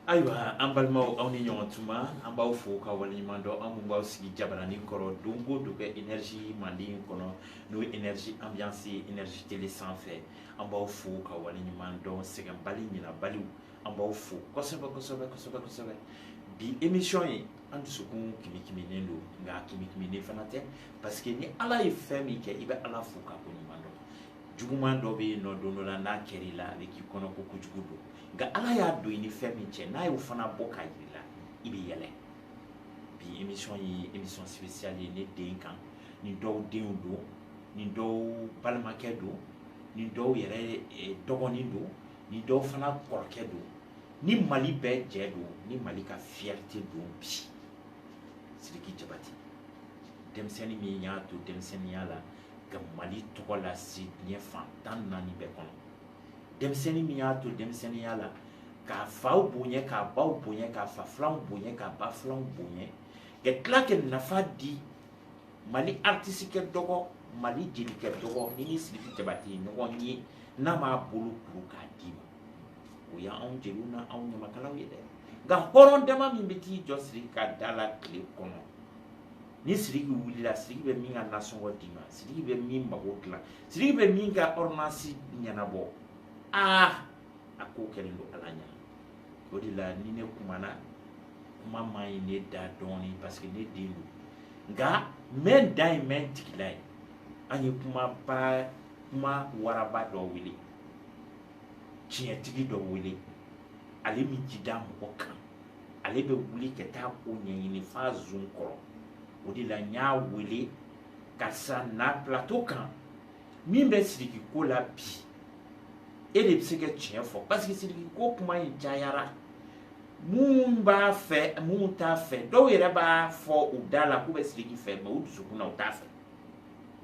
ayiwa an balimaw aw ni ɲɔgɔn tuma an b'aw fo ka waleɲuman dɔn aw minnu b'aw sigi jabarani kɔrɔ don o don kɛ energie manden kɔnɔ n'o ye energie ambiance ye energie tele sanfɛ an b'aw fo ka waleɲuman dɔn sɛgɛnbali ɲinabaliw an b'aw fo kosɛbɛ kosɛbɛ kosɛbɛ kosɛbɛ bi émission ye an dusukun kimikiminen don nka kimikiminen fana tɛ parce que ni ala ye fɛn min kɛ i bɛ ala fo ka ko ɲuman dɔn juguman dɔ bɛ yen nɔ don dɔ la n'a kɛra i la a bɛ k'i kɔnɔ ko kojugu don nka ala y'a don i ni fɛn min cɛ n'a y'o fana bɔ k'a jira i la i bɛ yɛlɛ bi émission ye émission spéciale ye ne den kan ni dɔw denw don ni dɔw balimakɛ don ni dɔw yɛrɛ eh, dɔgɔnin don ni dɔw fana kɔrɔkɛ don ni mali bɛɛ jɛ don ni mali ka fierté don bi sidiki jabate denmisɛnnin min y'a to denmisɛnninya la ka mali tɔgɔ lase diɲɛ fan tan naani bɛɛ kɔnɔ denmisɛnnin min y'a to denmisɛnninya la k'a faw bonya k'a baw bonya k'a fa filanw bonya k'a ba filanw bonya ka tila ka nafa di mali aritisi ka dɔgɔ mali jeli ka dɔgɔ min ni sidiki jabate ye ɲɔgɔn ye n'a m'a bolo kuru k'a d'i ma o y'anw jeliw na anw ɲamakalaw ye dɛ nka hɔrɔn dama min bɛ t'i jɔ siriki ka da la tile kɔnɔ ni siriki wulila siriki bɛ min ka nasɔngɔ d'i ma siriki bɛ min mago dilan siriki bɛ min ka ordonnance ɲɛnabɔ aa a ko kɛlen don ala ɲɛ na o de la ni ne kumana kuma man ɲi ne da dɔɔni parce que ne den don nka n bɛ n da ye n bɛ n tigila ye an ye kuma waraba dɔ wele tiɲɛtigi dɔ wele ale m'i jigi da mɔgɔ kan ale bɛ wuli ka taa ko ɲɛɲini f'a zon kɔrɔ o de la n y'a wele karisa na plateau kan min bɛ sidiki ko la bi e de bɛ se ka tiɲɛ fɔ parce que sidiki ko kuma in cayara min b'a fɛ min t'a fɛ dɔw yɛrɛ b'a fɔ u da la k'u bɛ sidiki fɛ mais u dusukun na u t'a fɛ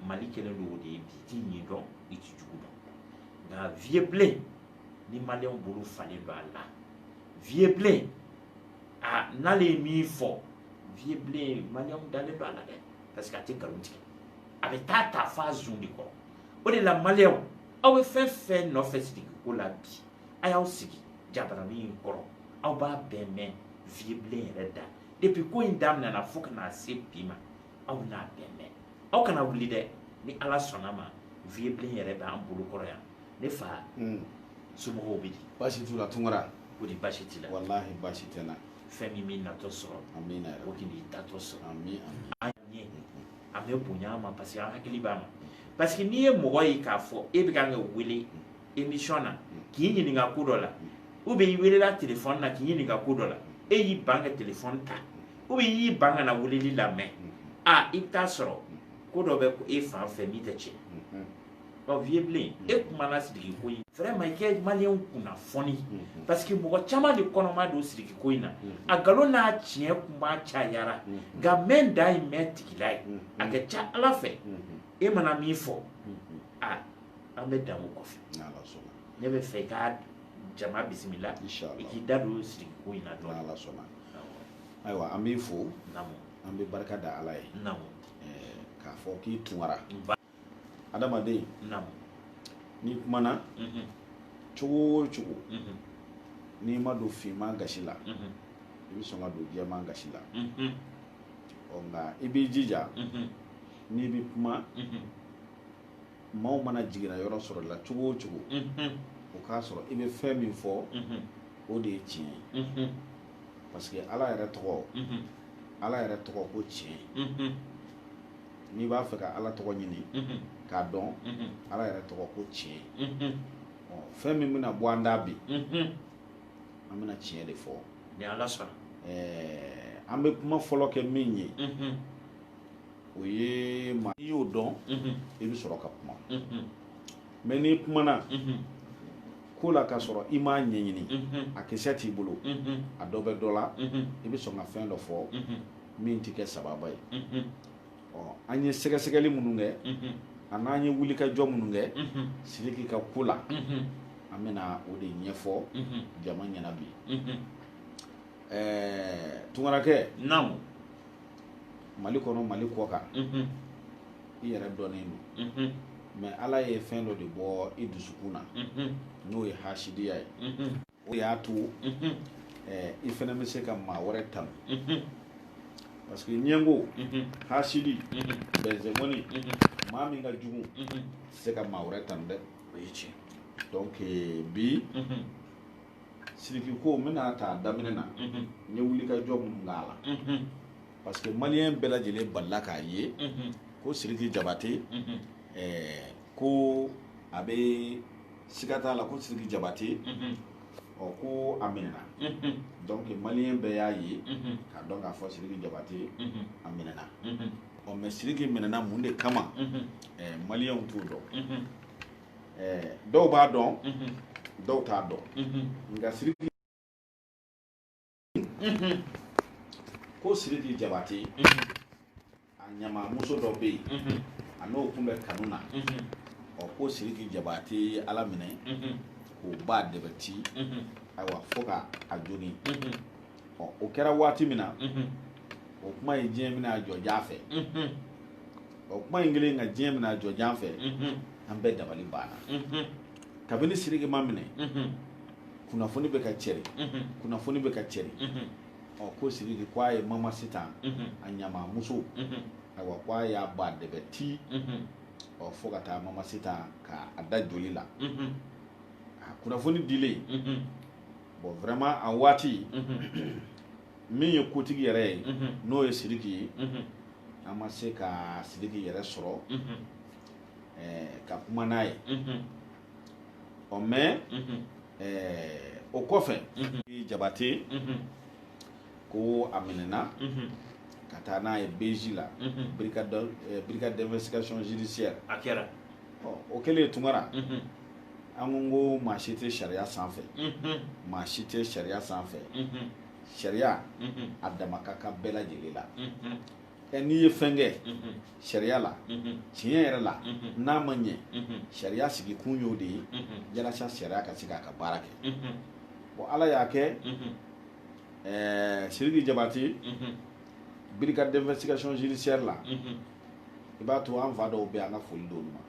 mali kɛlen don o de ye bi i t'i ɲin dɔn i t'i jugu dɔn nka vieux bilen ni maliyɛnw bolo falen don a la vieux bilen a n'ale ye min fɔ vieux bilen maliyɛnw dalen don a la dɛ parce que a tɛ nkalon tigɛ a bɛ t'a ta f'a zun de kɔrɔ o de la maliyɛnw aw bɛ fɛn fɛn nɔfɛ sidiki ko la bi a y'aw sigi jabaranin in kɔrɔ aw b'a bɛɛ mɛn vieux bilen yɛrɛ da depuis ko in daminɛna fo ka na se bi ma aw n'a bɛɛ mɛn aw kana wuli dɛ ni ala sɔnna ma vieux bilen yɛrɛ bɛ an bolo kɔrɔ yan ne fa hmm. somɔgɔw bɛ di baasi t'u la tunkara o de baasi t'i la walahi baasi tɛ n na fɛn min b'i natɔ sɔrɔ amina o de b'i taatɔ sɔrɔ amin an ɲɛ a bɛ bonya a ma parce que an hakili b'a ma parce que n'i ye mɔgɔ ye k'a fɔ e bɛ kan ka wele émission na k'i ɲininka ko dɔ la ou bien i welela telefɔni na k'i ɲininka ko dɔ la e y'i ban ka telefɔni ta ou bien i y'i ban ka na weleli lamɛn a i bɛ taa sɔrɔ ko dɔ bɛ e fan fɛ min tɛ tiɲɛ ɔ vieux bilen e kumana sidiki ko in vraiment i ka maliyɛnw kunnafoni parce que mɔgɔ caman de kɔnɔ ma don sidiki ko in na a nkalon n'a tiɲɛ kuma cayara nka mɛn da ye mɛn tigila ye a ka ca ala fɛ e mana min fɔ a an bɛ dan o kɔfɛ ne b'a fɛ i ka jama bisimila i k'i da don sidiki ko in na dɔɔni ayiwa an b'i fo an bɛ barika da ala ye k'a fɔ k'i tunkara adamaden n'i kumana cogo o cogo n'i ma don finman gasi la i bɛ sɔn ka don jɛman gasi la ɔ nka i b'i jija n'i bɛ kuma maaw mana jiginna yɔrɔ sɔrɔ la cogo o cogo o k'a sɔrɔ i bɛ fɛn min fɔ o de ye tiɲɛ ye parce que ala yɛrɛ tɔgɔ ala yɛrɛ tɔgɔ ko tiɲɛ n'i b'a fɛ ka ala tɔgɔ ɲini k'a dɔn ala yɛrɛ tɔgɔ ko tiɲɛ fɛn min bɛna bɔ an da bi an bɛna tiɲɛ de fɔ ni ala sɔnna an bɛ kuma fɔlɔ kɛ min ye o ye maa n'i y'o dɔn i bɛ sɔrɔ ka kuma mais n'i kumana ko la ka sɔrɔ i m'a ɲɛɲini a kisɛ t'i bolo a dɔ bɛ dɔ la i bɛ sɔn ka fɛn dɔ fɔ min tɛ kɛ sababa ye ɔ an ye sɛgɛsɛgɛli minnu kɛ a n'an ye wulikajɔ minnu kɛ sidiki ka ko la an bɛna o de ɲɛfɔ jama ɲɛna bi ɛɛ tunkarakɛ naamu mali kɔnɔ mali kɔkan i yɛrɛ dɔnnen don mais ala ye fɛn dɔ de bɔ i dusukun na n'o ye hasidiya ye o y'a to i fana bɛ se ka maa wɛrɛ tanu parce que ɲɛngo hasidi bɛnzɛmɔni maa min ka jugu tɛ se ka maa wɛrɛ tanu dɛ o ye tiɲɛ donc bi siriki ko n bɛna ta daminɛ na n ye wulikajɔ minnu k'a la parce que maliyɛn bɛɛ lajɛlen balila k'a ye ko siriki jabate ko a bɛ siga t'a la ko siriki jabate ɔ ko a minɛna donc maliyɛn bɛɛ y'a ye k'a dɔn k'a fɔ siriki jabate a minɛna ɔ mais siriki minɛna mun de kama maliyɛnw t'o dɔn dɔw b'a dɔn dɔw t'a dɔn nka siriki ko siriki jabate a ɲamamuso dɔ bɛ yen a n'o tun bɛ kanu na ɔ ko siriki jabate y'ala minɛ k'o ba dɛbɛ ti ayiwa fo ka a jogin o kɛra waati min na o kuma ye diɲɛ minɛ a jɔjan fɛ o kuma in kɛlen ka diɲɛ minɛ a jɔjan fɛ an bɛɛ dabali banna kabini siriki ma minɛ kunnafoni bɛ ka cɛri kunnafoni bɛ ka cɛri ɔ ko siriki ko a ye mama sitan a ɲamamuso ayiwa ko a y'a ba dɛbɛ ti ɔ fo ka taa mama sitan ka a da joli la a kunnafoni dilen bon vraiment a waati min ye kotigi yɛrɛ ye n'o ye sidiki ye an ma se ka sidiki yɛrɛ sɔrɔ ka kuma n'a ye ɔ mais o kɔfɛ jabate ko a minɛna ka taa n'a ye beji la brigade d'investigation judiciaire a kɛra o kɛlen tunkara an ko ko maa si tɛ sariya sanfɛ maa si tɛ sariya sanfɛ sariya a dama ka kan bɛɛ lajɛlen la ɛ n'i ye fɛn kɛ sariya la tiɲɛ yɛrɛ la n'a ma ɲɛ sariya sigi kun y'o de ye yalasa sariya ka se k'a ka baara kɛ bon ala y'a kɛ ɛɛ siriki jabate brigade d'investigation judiciaire la i b'a to an fa dɔw bɛ an ka foli d'olu ma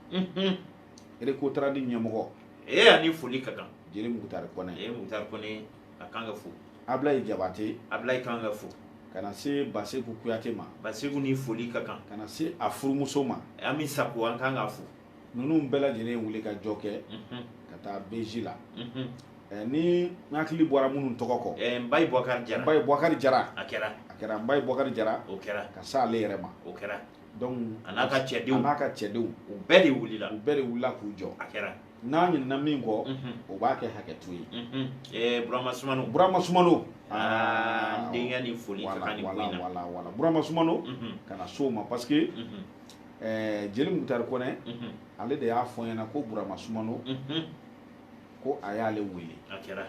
erekotaradi ɲɛmɔgɔ e a ni foli ka kan jeli mukutari kɔnɛ e mukutari kɔnɛ a kan ka fo ablayi jabate ablayi kan ka fo ka na se baseku kuyate ma baseku ni foli ka kan ka na se a furumuso ma ami sako an kan ka fo ninnu bɛɛ lajɛlen wulikajɔ kɛ ka taa beji la ni n hakili bɔra minnu tɔgɔ kɔ mbaye bɔkari jara mbaye bɔkari jara a kɛra a kɛra mbaye bɔkari jara o kɛra ka se ale yɛrɛ ma o kɛra a n'a ka cɛdenw n'a ka cɛdenw u bɛɛ de wulila u bɛɛ de wulila k'u jɔ a kɛra n'a ɲinina min kɔ o b'a kɛ hakɛto ye burama sumano burama sumano denkɛ ni foli wala wala wala burama sumano ka na se o ma parce que ɛɛ jeli mukutari kɔnɛ mhm. ale de y'a fɔ ɲɛna ko burama sumano mhm. ko a y'ale wele a kɛra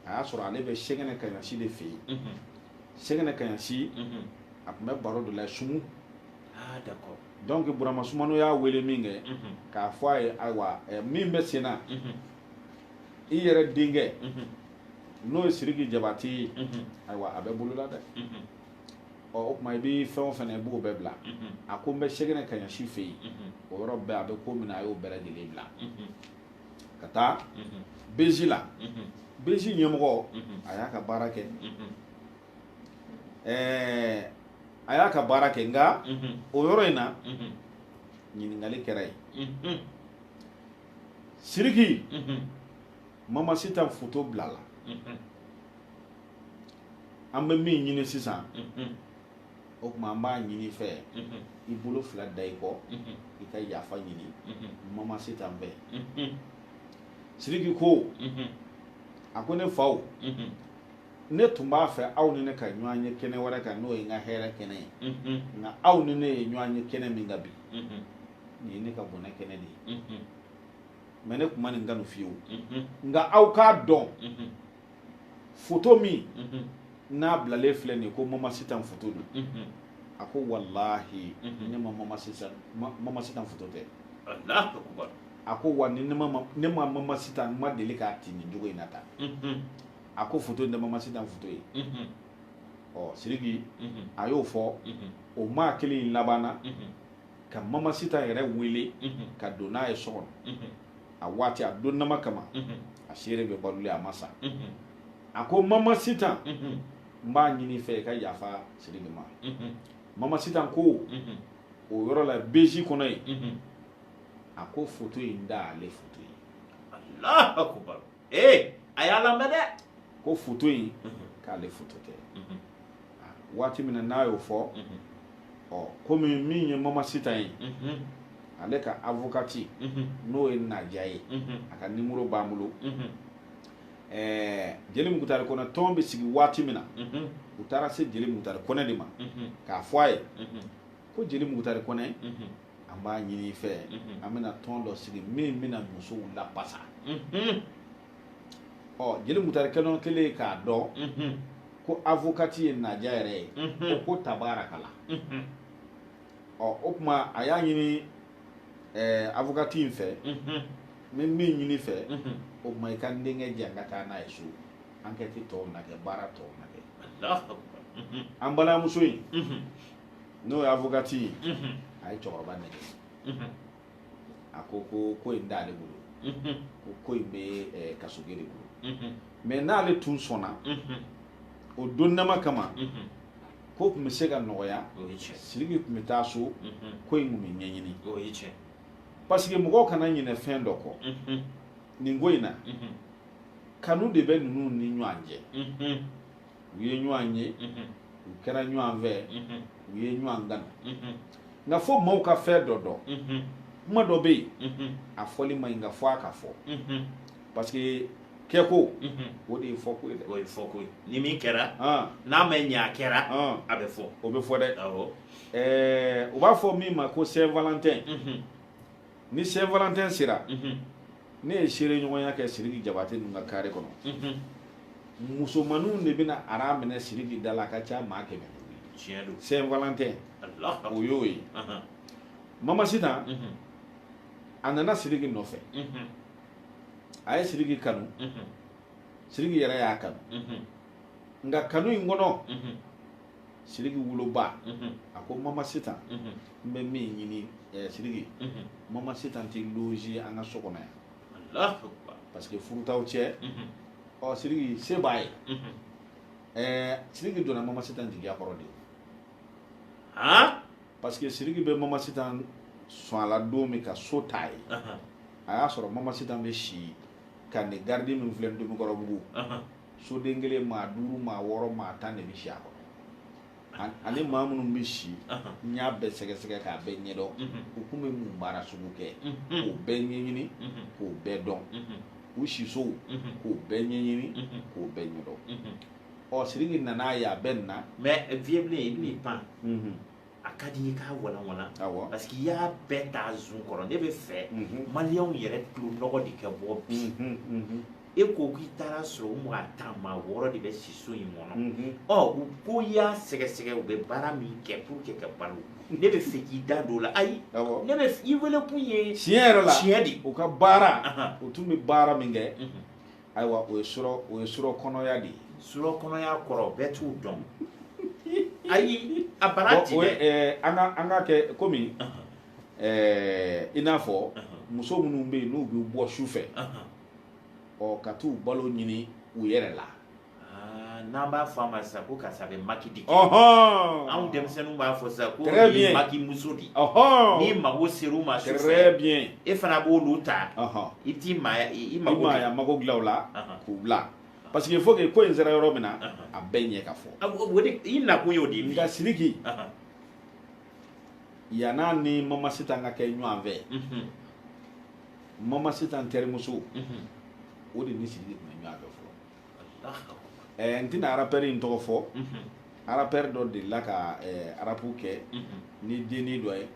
a y'a sɔrɔ ale bɛ sɛgɛnɛ kaɲasi de fɛ yen mhm. sɛgɛnɛ kaɲasi a tun bɛ baro de la sumu d'accord donc burama sumano y'a wele min kɛ k'a fɔ a ye ayiwa min bɛ sen na i yɛrɛ denkɛ n'o ye siriki jabati ye ayiwa a bɛ bolola dɛ ɔ o tuma i bɛ fɛn o fɛn i b'o bɛɛ bila a ko n bɛ sɛgɛnɛ kaɲasi fɛ yen o yɔrɔ bɛɛ a bɛ ko min na a y'o bɛɛ lajɛlen bila ka taa bezi la bezi ɲɛmɔgɔ a y'a ka baara kɛ ɛɛ a y'a ka baara kɛ nka o yɔrɔ in na ɲininkali kɛra yen siriki mama sitan foto bila la an bɛ min ɲini sisan o tuma an b'a ɲini i fɛ i bolo fila da i kɔ i ka yafa ɲini mama sitan fɛ siriki ko a ko ne faw ne tun b'a fɛ aw ni ne ka ɲɔgɔn ye kɛnɛ wɛrɛ kan n'o ye n ka hɛrɛ kɛnɛ ye nka aw ni ne ye ɲɔgɔn ye kɛnɛ min kan bi nin ye ne ka bɔnɛ kɛnɛ de ye mɛ ne tun ma nin kanu fiyewu nka aw k'a dɔn foto min n'a bilalen filɛ nin ye ko mama sitan foto don a ko walahi ne ma mama sitan foto tɛ a ko wa ni ne ma mama sitan ma deli k'a ti nin cogo in na tan a ko foto in tɛ mama sitan foto ye ɔ siriki a y'o fɔ o maa kelen in labanna ka mama sitan yɛrɛ wele ka don n'a ye so kɔnɔ a waati a don nama kama a seere bɛ balolen a ma sa a ko mama sitan n b'a ɲini i fɛ i ka yafa sidiki ma mama sitan ko o yɔrɔ la beji kɔnɔ yen a ko foto in t'ale foto ye ee a y'a lamɛn dɛ ko foto in k'ale foto tɛ waati min na n'a y'o fɔ ɔ komi min ye mama sitan ye ale ka avokati n'o ye naja ye a ka nimoro b'an bolo jeli mukutari kɔnɛ tɔn bɛ sigi waati min na u taara se jeli mukutari kɔnɛ de ma k'a fɔ a ye ko jeli mukutari kɔnɛ an b'a ɲini i fɛ an bɛna tɔn dɔ sigi min bɛna musow lapasa ɔ jeli mukutari kɔnɛ kɛlen k'a dɔn ko avokati ye naja yɛrɛ ye o ko tabarakala ɔ o tuma a y'a ɲini avokati in fɛ n bɛ min ɲini i fɛ o tuma i ka n denkɛ di yan ka taa n'a ye so ankɛti tɔw na kɛ baara tɔw na kɛ an balimamuso in n'o ye avocati ye unhun, a ye cɛkɔrɔba nɛgɛn unhun, a ko ko ko in t'ale bolo unhun, ko ko in bɛ eh, kasoge de bolo unhun, mais n'ale tun sɔnna unhun, o donnama kama unhun. ko tun bɛ se ka nɔgɔya o ye tiɲɛ siriki tun bɛ taa so unhun, ko in tun bɛ ɲɛɲini o ye tiɲɛ parce que mɔgɔw kana ɲinɛ fɛn dɔ kɔ unhun, nin ko in na unhun, kanu de bɛ ninnu ni ɲɔgɔn cɛ unhun, u ye ɲɔgɔn ye u kɛra ɲɔgɔn fɛ u ye ɲɔgɔn kanu nka fo maaw ka fɛn dɔ dɔn kuma dɔ bɛ yen a fɔli ma ɲi nka fo a ka fɔ parce que kɛko o de ye fɔko ye dɛ o ye fɔko ye ni min kɛra n'a ma ɲɛ a kɛra a bɛ fɔ o bɛ fɔ dɛ ɛɛ u b'a fɔ min ma ko saint valentin ni saint valentin sera ne ye seere ɲɔgɔnya kɛ siriki jabate ninnu ka kare kɔnɔ musomaninw de bɛna ara minɛ siriki da la a ka ca maa kɛmɛ tiɲɛ don saint valentin o y'o ye mama sitan a nana siriki nɔfɛ a ye siriki kanu siriki yɛrɛ y'a kanu nka kanu in kɔnɔ siriki woloba mhm. a ko mama sitan mhm. n bɛ min ɲini eh, siriki mhm. mama sitan tɛ loger an ka so kɔnɔ yan parce que furu t'aw cɛ ɔ siriki se b'a ye eh, siriki donna mama sitan jigiya kɔrɔ de parce que siriki bɛ mama sitan sɔn a la don min ka so t'a ye a y'a sɔrɔ mama sitan bɛ si camp de garde min filɛ ntomikɔrɔbugu soden kelen maa duuru maa wɔɔrɔ maa tan de bɛ si a kɔnɔ ani maa minnu bɛ si n y'a bɛɛ sɛgɛsɛgɛ k'a bɛɛ ɲɛdɔn u kun bɛ mun baara sugu kɛ k'o bɛɛ ɲɛɲini k'o bɛɛ dɔn u sisow k'o bɛɛ ɲɛɲini k'o bɛɛ ɲɛdɔn ɔ siriki nana ye a bɛɛ na mais vieux bilen i bɛn'i pan a ka di i k'a walanwalan parce que i y'a bɛɛ t'a ju kɔrɔ ne bɛ fɛ maliyɛnw yɛrɛ tulonɔgɔ de ka bɔ bi e ko k'i taar'a sɔrɔ u maa tan maa wɔɔrɔ de bɛ si so in kɔnɔ mhm. ɔ u ko i y'a sɛgɛsɛgɛ u bɛ baara min kɛ pour que ka balo ne bɛ fɛ k'i da don o la ayi ne bɛ i wele kun ye tiɲɛ yɛrɛ la tiɲɛ de u ka baara u tun bɛ baara min kɛ mhm. ayiwa o ye surɔ o ye surɔ kɔnɔya de ye surɔ kɔnɔya kɔrɔ bɛɛ t'o dɔn ayi a bana ti dɛ eh, an ka an ka kɛ komi eh, i n'a fɔ muso minnu bɛ yen n'u bɛ bɔ su fɛ. ɔ ka t'u balo ɲini u yɛrɛ la ah, n'an b'a fɔ a ma sisan ko karisa bɛ maki di anw denmisɛnninw b'a fɔ sisan ko ye maki muso di n'i mago ser'u ma sufɛ e fana b'olu ta i t'i maaya i mago maaya mago dilan o la k'u bila parce que il faut que ko in sera yɔrɔ min na a bɛɛ ɲɛ ka fɔ ah, o de i nakun y'o de ye nka sidiki yann'a ni mama sitan ka kɛ ɲɔgɔn fɛ mama sitan terimuso o de ni siriki tun bɛ ɲɔgɔn fɛ fɔlɔ ɛɛ n tɛna arapɛri in tɔgɔ fɔ arapɛri dɔ delila ka arapu kɛ ni denni dɔ ye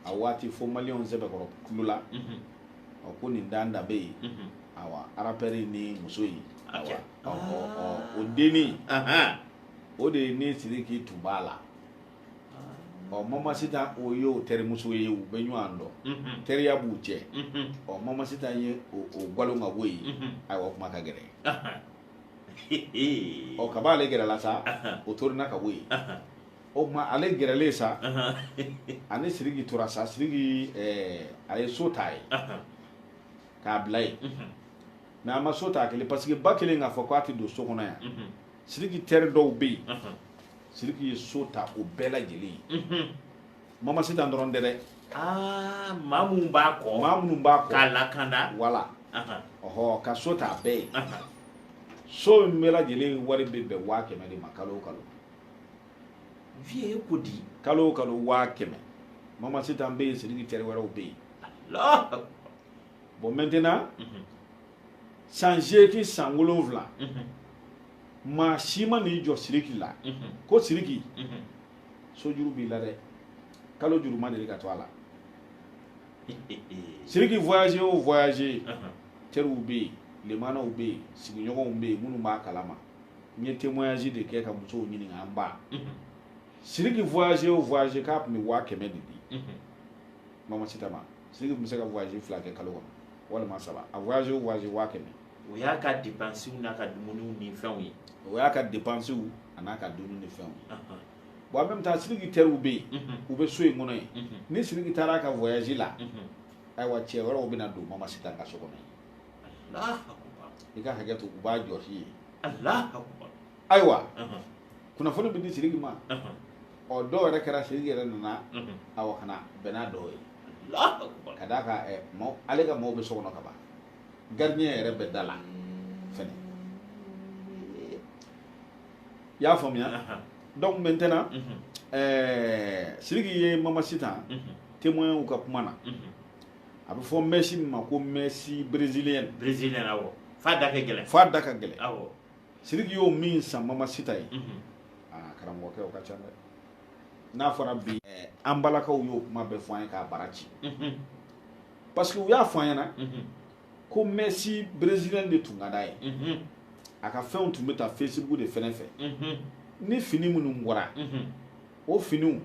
a waati fo maliyɛnw sɛbɛkɔrɔ tulo la ɔ ko nin dan da bɛ yen awa arapɛri ni muso in awa o denni o de ye ni siriki tun b'a la ɔ mama sitan o ye o terimuso ye u bɛ ɲɔgɔn dɔn mhm. teriya b'u cɛ mhm. ɔ mama sitan ye o gwalo ka bɔ yen mhm. ayiwa kuma ka gɛrɛ ɔ kaba ale gɛrɛla sa o torina ka bɔ yen o tuma ale gɛrɛlen sa a ni siriki tora sa siriki eh, a ye so ta ye k'a bila yen mɛ a ma so ta a kelen paseke ba kɛlen k'a fɔ k'a tɛ don so kɔnɔ yan siriki tɛri dɔw bɛ yen siriki ye so ta o bɛɛ lajɛlen ye mama sitan dɔrɔn tɛ dɛ aa maa minnu b'a kɔ maa minnu b'a kɔ k'a lakanda wala ɔhɔ ka so ta a bɛɛ ye so in bɛɛ lajɛlen wari bɛ bɛn waa kɛmɛ de ma kalo o kalo viye ko di kalo o kalo waa kɛmɛ mama sitan bɛ yen siriki tɛri wɛrɛw bɛ yen bɔn mɛntɛnan san seegin san wolonwula maa si ma n'i jɔ siriki la ko siriki sojuru b'i la dɛ kalo juru ma deli ka to a la siriki voyage o voyage teriw bɛ yen lemanaw bɛ yen sigiɲɔgɔnw bɛ yen minnu b'a kalama n ye témoignage de kɛ ka musow ɲininka an ba siriki voyage o voyage k'a tun bɛ waa kɛmɛ de di mama sitan ma siriki tun bɛ se ka voyage fila kɛ kalo kɔnɔ walima saba a voyage o voyage waa kɛmɛ o y'a ka depansiw n'a ka dumuniw ni fɛnw ye o y'a ka depansiw a n'a ka dumuni ni fɛnw ye bon en même temps sidiki tɛriw bɛ yen u bɛ so in kɔnɔ yen ni sidiki taara a ka voyage la ayiwa cɛ wɛrɛw bɛ na don mama sitan ka so kɔnɔ yen i ka hakɛ to u b'a jɔsi ye ayiwa kunnafoni bɛ di sidiki ma ɔ dɔw yɛrɛ kɛra sidiki yɛrɛ nana awa ka na bɛn n'a dɔw ye ka d'a kan eh, ale ka maaw bɛ so kɔnɔ ka ban gardien yɛrɛ bɛ da la fɛnɛ i y'a faamuya donc maintenant mhm. eh, sidiki ye mama sitan mhm. témoinw ka kuma na mhm. a bɛ fɔ mɛsi min ma ko mɛsi brésilienne brésilienne awɔ f'a da ka gɛlɛn f'a da ka gɛlɛn awɔ Siriki y'o min san mama sita ye aa karamɔgɔkɛ o ka ca dɛ n'a fɔra bi an balakaw y'o kuma bɛɛ fɔ an ye k'a bara ci parce que u y'a fɔ an ɲɛna ko mɛsi brésilienne de tun ka d'a ye a ka fɛnw tun bɛ ta Facebook de fɛnɛ fɛ ni fini minnu bɔra o finiw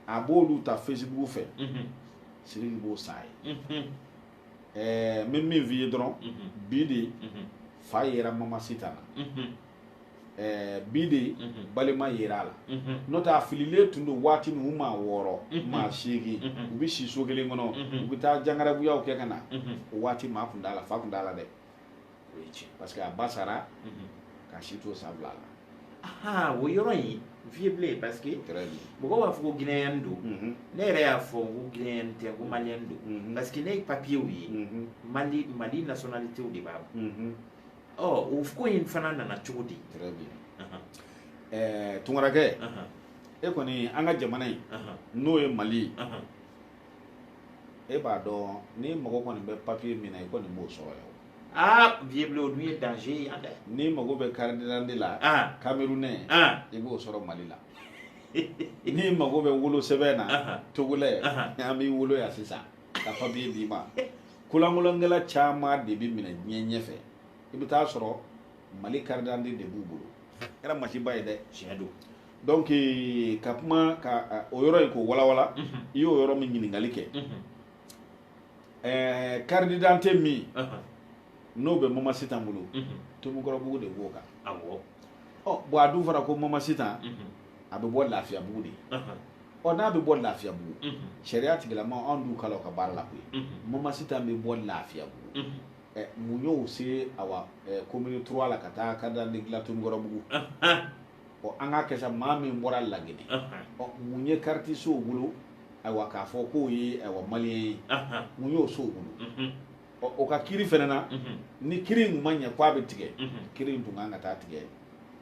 a b'olu ta Facebook fɛ Siriki b'o san a ye ɛɛ n bɛ min f'i ye dɔrɔn bi de fa yera mama sitan na ɛɛ bi de balima yera a la n'o tɛ a fililen tun don waati min u maa wɔɔrɔ maa seegin u bɛ si so kelen kɔnɔ u bɛ taa jangarabuyaw kɛ ka na o waati maa tun t'a la fa tun t'a la dɛ o ye tiɲɛ parce que a ba sara k'a si to san fila la o yɔrɔ in vieux Blen parce que mɔgɔw b'a fɔ ko guinéen don mhm. ne yɛrɛ y'a fɔ ko guinéen tɛ ko malien don mhm. parce que ne ye papiyew ye mhm. mali mali nationalité de b'a bolo o ko in fana nana cogo di tunkarakɛ e kɔni an ka jamana in n'o ye mali ye e b'a dɔn n'i mago kɔni bɛ papiye min na i kɔni b'o sɔrɔ yan aa vieux Blen o dun ye danger ye yan dɛ n'i mago bɛ carte d'identité la ah. camerounais ah. i b'o sɔrɔ mali la n'i mago bɛ wolo sɛbɛn na ah. togolais an b'i wolo yan sisan ka papiye d'i ma kolankolankɛla caman de bɛ minɛ diɲɛ ɲɛfɛ i bɛ t'a sɔrɔ mali carte d'identité de b'u bolo kɛra masiba ye dɛ tiɲɛ don donc eh, ka kuma ka o yɔrɔ in k'o walawala i y'o yɔrɔ min ɲininkali kɛ eh, carte d'identité min n'o bɛ mama sitan bolo tomukɔrɔbugu de b'o kan awɔ ɔ bon a dun fana ko mama sitan a bɛ bɔ lafiyabugu de ye ɔ n'a bɛ bɔ lafiyabugu sariya tigilama anw dun kala o ka baara la koyi mama sitan bɛ bɔ lafiyabugu ɛ mun y'o se awa commune trois la ka taa carte d'identité dilan tomukɔrɔbugu ɔ an k'a kɛ sa maa min bɔra laginɛ ɔ mun ye kariti s'o bolo ayiwa k'a fɔ k'o ye ayiwa maliyɛn ye mun y'o s'o bolo ɔ o ka kiri fɛnɛ na ni kiri in ma ɲɛ k'a bɛ tigɛ kiri in tun kan ka taa tigɛ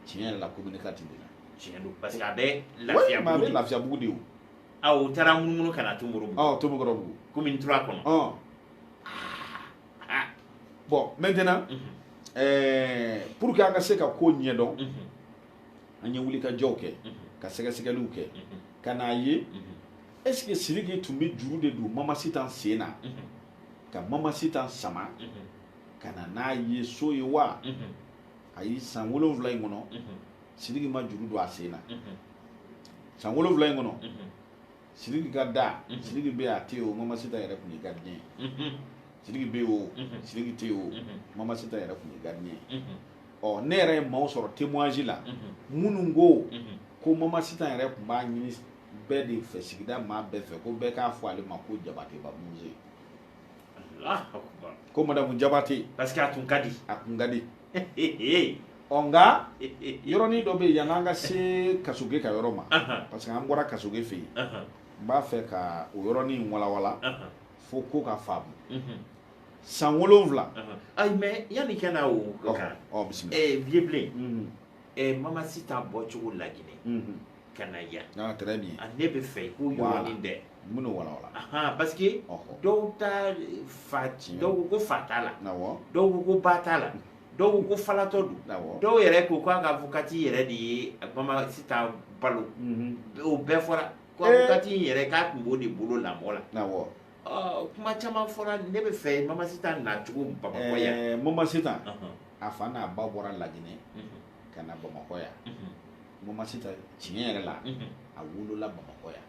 tiɲɛ yɛrɛ la commune quatre de la tiɲɛ don parce que a bɛ lafiyabugu de a bɛ lafiyabugu de ye o taara munumunu ka na tomukɔrɔbugu ɔ tomukɔrɔbugu commune trois kɔnɔ ɔ ah. bon maintenant mm -hmm. euh, pour que an ka se ka ko ɲɛdɔn mm -hmm. an ye wulikajɔw kɛ mm -hmm. ka sɛgɛsɛgɛliw kɛ mm -hmm. ka n'a ye mm -hmm. est ce que sidiki tun bɛ juru de don mama sitan sen na mm -hmm. ka mama sitan sama mm -hmm. ka na n'a ye so ye wa mm -hmm. ayi san wolonwula in kɔnɔ mm -hmm. sidiki ma juru don a sen na mm -hmm. san wolonwula in kɔnɔ mm -hmm. Sidiki ka da unhun Sidiki bɛ yen a tɛ yen o Mama Sitan yɛrɛ tun ye gardien ye unhun Sidiki bɛ yen o unhun Sidiki tɛ yen o unhun Mama Sitan yɛrɛ tun ye gardien ye unhun ɔ ne yɛrɛ ye maaw sɔrɔ témoignage la unhun minnu ko unhun ko Mama Sitan yɛrɛ tun b'a ɲini bɛɛ de fɛ sigida maa bɛɛ fɛ ko bɛɛ k'a fɔ ale ma ko Jabateba muso ko madamu jabate parce que a tun ka di a tun ka di ɔ nka yɔrɔnin dɔ bɛ yen yan'an ka se kasoge ka yɔrɔ ma parce que an bɔra kasoge fɛ yen n b'a fɛ ka o yɔrɔnin walawala fo ko ka faamu mhm. san wolonwula ayi mais yanni i ka na o kan ɔ bisimila vieux blen mhm. ɛ mama sitan bɔcogo laginɛ ka na yan ah, ah, ne b'a fɛ i k'o yɔrɔnin dɛ minnu walawala ahan parce que dɔw ta fa dɔw ko ko fa t'a la dɔw ko ko ba t'a la dɔw ko ko falatɔ don dɔw yɛrɛ ko k'a ka avocati yɛrɛ de ye mama sitan balo o bɛɛ fɔra ko avocati in yɛrɛ k'a tun b'o de bolo lamɔ la kuma caman fɔra ne b'a fɛ mama sitan nacogo bamakɔ yan eh, mama sitan a fa n'a ba bɔra laginɛ mhm. ka na bamakɔ yan mhm. mama sitan tiɲɛ yɛrɛ la mhm. a wolola bamakɔ yan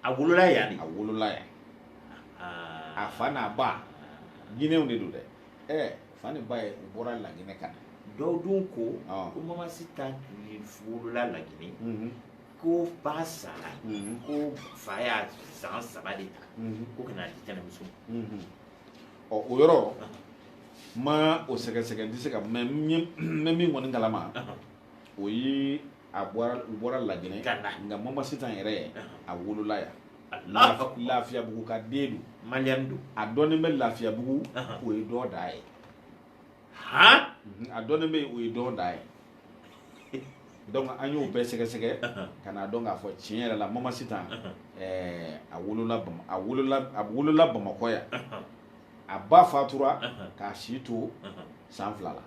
a wolola yan de a wolola yan a fa n'a ba guinéenw de don dɛ ɛ eh, fa ni ba ye u bɔra laginɛ ka na dɔw dun ko ko mama sitan wolola laginɛ ko ba sara mhm. ko fa y'a san saba de ta mhm. ko ka n'a di tɛnɛmuso mhm. ɔ o yɔrɔ n ma o sɛgɛsɛgɛ n tɛ se ka mais n bɛ min kɔni kalama o ye a bɔra u bɔra laginɛ nka mama sitan yɛrɛ a wolola yan lafiyabugu ka den don maliyɛn don a dɔnnen bɛ lafiyabugu o ye dɔ da ye a dɔnnen bɛ o ye dɔ da ye donc an y'o bɛɛ sɛgɛsɛgɛ ka n'a dɔn k'a fɔ tiɲɛ yɛrɛ la mama sitan a wolola bamakɔ yan a ba fatura k'a si to san fila la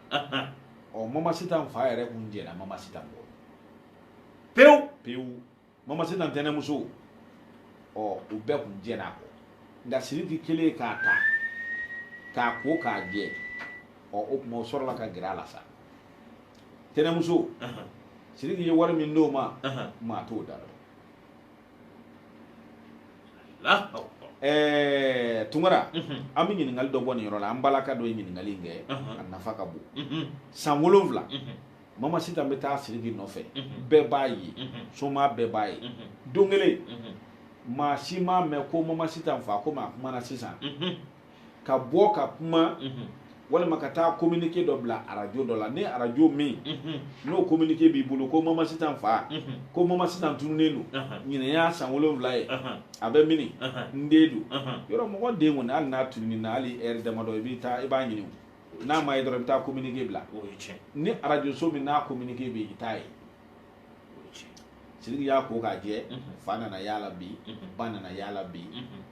ɔ mama sitan fa yɛrɛ kun jɛnna mama sitan kɔ pewu pewu mama sitan tɛnɛmuso ɔ u bɛɛ kun jɛnna a kɔ nka siriki kelen k'a ta k'a ko k'a jɛ ɔ o tuma o sɔrɔla ka gɛrɛ a la sa tɛnɛmuso siriki ye wari min d'o ma maa t'o da dɔn ɛɛ tunkara an bɛ ɲininkali dɔ bɔ nin yɔrɔ la an balaka dɔ ye ɲininkali in kɛ a nafa ka bon san wolonwula mama sitan bɛ taa siriki nɔfɛ bɛɛ b'a ye somaa bɛɛ b'a ye don kelen maa si m'a mɛn ko mama sitan fa ko maa kumana sisan ka bɔ ka kuma walima ka taa communiqué dɔ bila arajo dɔ la ni arajo min n'o communiqué b'i bolo ko mama sitan fa ko mama sitan tununnen don ɲinan y'a san wolonwula ye a bɛ mini n den don yɔrɔ mɔgɔ den kɔni hali n'a tununna hali heure damadɔ i bɛ taa i b'a ɲini n'a ma ye dɔrɔn i bɛ taa communiqué bila ni arajoso min n'a communiqué bɛ yen i t'a ye siriki y'a ko k'a jɛ fa nana y'a la bi ba nana y'a la bi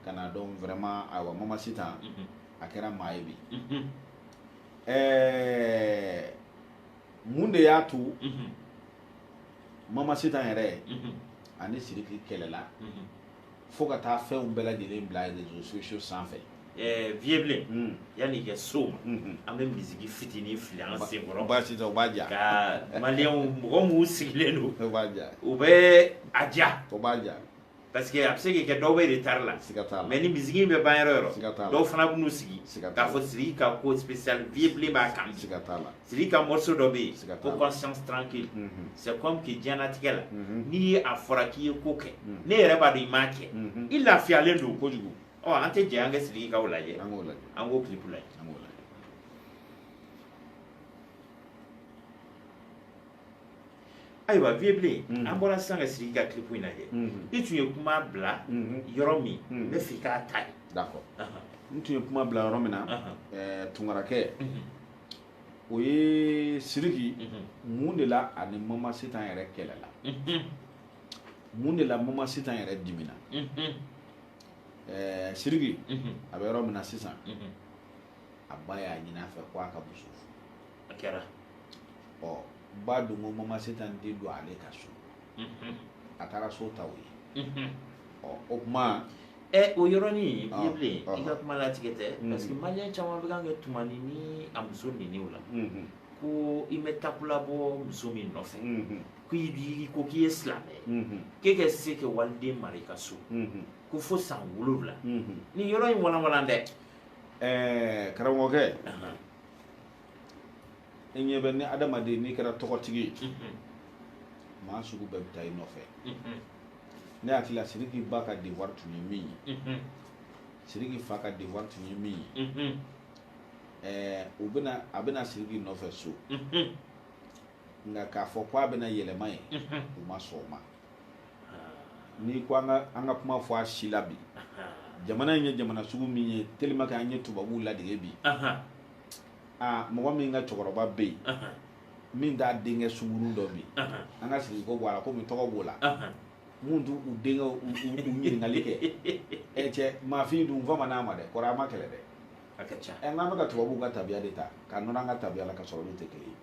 ka n'a dɔn vraiment ayiwa mama sitan a kɛra maa ye bi ɛɛ mun de y'a to mama sitan yɛrɛ ani siriki kɛlɛla fo ka taa fɛnw bɛɛ lajɛlen bila réseaux sociaux sanfɛ eh, vieux bilen hmm. yanni i ka s'o ma hmm, hmm. an bɛ misiki fitinin fili an sen kɔrɔ baasi tɛ o b'a diya ka maliyɛnw mɔgɔ minnu sigilen don o b'a diya u bɛ a diya o b'a diya parce que a bɛ se ka kɛ dɔw bɛ retard la siga t'a la mais ni misiki in bɛ ban yɔrɔ yɔrɔ siga t'a la dɔw fana bɛ n'u sigi k'a fɔ siriki ka ko spécial vieux bilen b'a kan siga t'a la siriki ka morceau dɔ bɛ yen ko conscience tranquille mhm. c'est comme que diɲɛnatigɛ la mhm. n'i ye a fɔra k'i ye ko kɛ mhm. n'e yɛrɛ b'a dɔn i m'a kɛ i lafiyalen don kojugu ɔ an tɛ jɛ an ka siriki ka o lajɛ an k'o lajɛ an k'o clip lajɛ an k'o lajɛ ayiwa vieux bilen an bɔra sisan ka siriki ka clip in lajɛ i tun ye kuma bila yɔrɔ min n bɛ fɛ i k'a ta yen d'accord n tun ye kuma bila yɔrɔ min na tunkarakɛ o ye siriki mun de la ani mama sitan yɛrɛ kɛlɛla mun de la mama sitan yɛrɛ dimina ɛɛ siriki a bɛ yɔrɔ min na sisan a ba y'a ɲini a fɛ ko a ka muso furu a kɛra ɔ ba dun ko mama sitan tɛ don ale ka so a taara so ta o ye ɔ o tuma Ɛ o yɔrɔnin vieux bilen ah. i ka kuma latigɛ tɛ mm-hmm. parce que maliyɛn caman bɛ kan kɛ tumani ni a muso niniw la mm-hmm. ko i ma takula bɔ muso min nɔfɛ mm-hmm. ko i b'i ko k'i ye silamɛ ye k'e ka se ka waliden mara i ka so ko fo san wolonwula nin yɔrɔ in walanwalan dɛ ɛɛ karamɔgɔkɛ i ɲɛ bɛ ni adamaden n'i kɛra tɔgɔtigi ye maa sugu bɛɛ bɛ taa i nɔfɛ ne hakili la siriki ba ka devoir tun ye min ye siriki fa ka devoir tun ye min ye ɛɛ u bɛna a bɛ na siriki nɔfɛ so nka k'a fɔ ko a bɛna yɛlɛma yen u ma sɔn o ma n'i ko an ka an ka kuma fɔ a sira la bi jamana in ye jamana sugu min ye tellement que an ye tubabuw ladege bi aa mɔgɔ min ka cɛkɔrɔba bɛ yen min t'a denkɛ sungurun dɔn bi an ka siriki ko bɔ a la komi tɔgɔ b'o la mun t'u u denkɛw ɲininkali kɛ ɛ cɛ maafin dun fama n'a ma dɛ kɔri a ma kɛlɛ dɛ ɛ n'an bɛ ka tubabuw ka tabiya de ta k'a nɔrɔ an ka tabiya la ka sɔrɔ olu tɛ kelen ye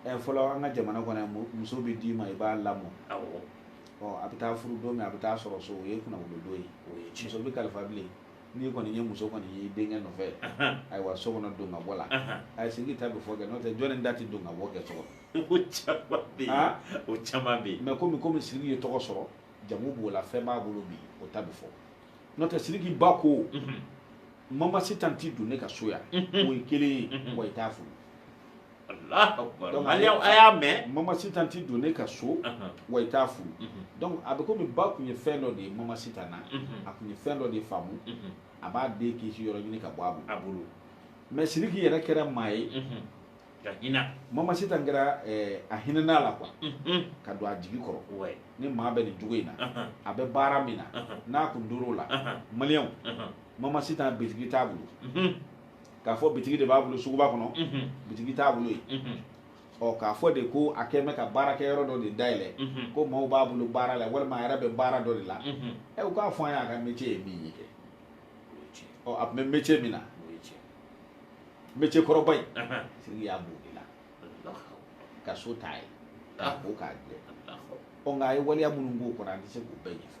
ɛ fɔlɔ an ka jamana kɔnɔ yan muso bɛ d'i ma i b'a lamɔ ɔ a bɛ taa furu don min a bɛ taa sɔrɔ so o ye kunnawolodon ye muso bɛ kalifa bilen n'i kɔni ye muso kɔni ye denkɛ nɔfɛ ayiwa so kɔnɔ don ka bɔ la a ye siriki ta bɛ fɔ kɛ n'o tɛ jɔnni de tɛ don ka bɔ kɛ so kɔnɔ o caman bɛ yen o caman bɛ yen mais komi komi siriki ye tɔgɔ sɔrɔ jamu b'o la fɛn b'a bolo bi o ta bɛ fɔ n'o tɛ siriki ba ko mama sitan tɛ don ne ka so yan o ye kelen ye wa i t'a furu Donc, a y'a mɛn mama sitan tɛ don ne ka so wa i t'a furu donc a bɛ komi ba tun ye fɛn dɔ de ye mama sitan na a tun ye fɛn dɔ de faamu a b'a den kisi yɔrɔ ɲini ka bɔ a bolo a bolo mais siriki yɛrɛ kɛra maa ye ka hinɛ mama sitan kɛra eh, a hinɛn'a la quoi ka don a jigi kɔrɔ ouais ni maa bɛ nin cogo in na a bɛ baara min na n'a tun tor'o la maliyɛnw mama sitan bitigi t'a bolo mhm. k'a fɔ bitigi de b'a bolo suguba kɔnɔ mhm. bitigi t'a bolo yen mhm. ɔ k'a fɔ de ko a kɛ bɛ ka baarakɛyɔrɔ dɔ de dayɛlɛ ko maaw b'a bolo baara la walima a yɛrɛ bɛ baara dɔ de la ɛ u k'a fɔ an ye a ka métier ye min ye kɛ ɔ a tun bɛ métier min na métier kɔrɔba in siriki y'a b'o de la ka so t'a ye k'a ko k'a jɛ ɔ nka a ye waleya minnu k'o kɔnɔ an tɛ se k'o bɛɛ ɲɛfɔ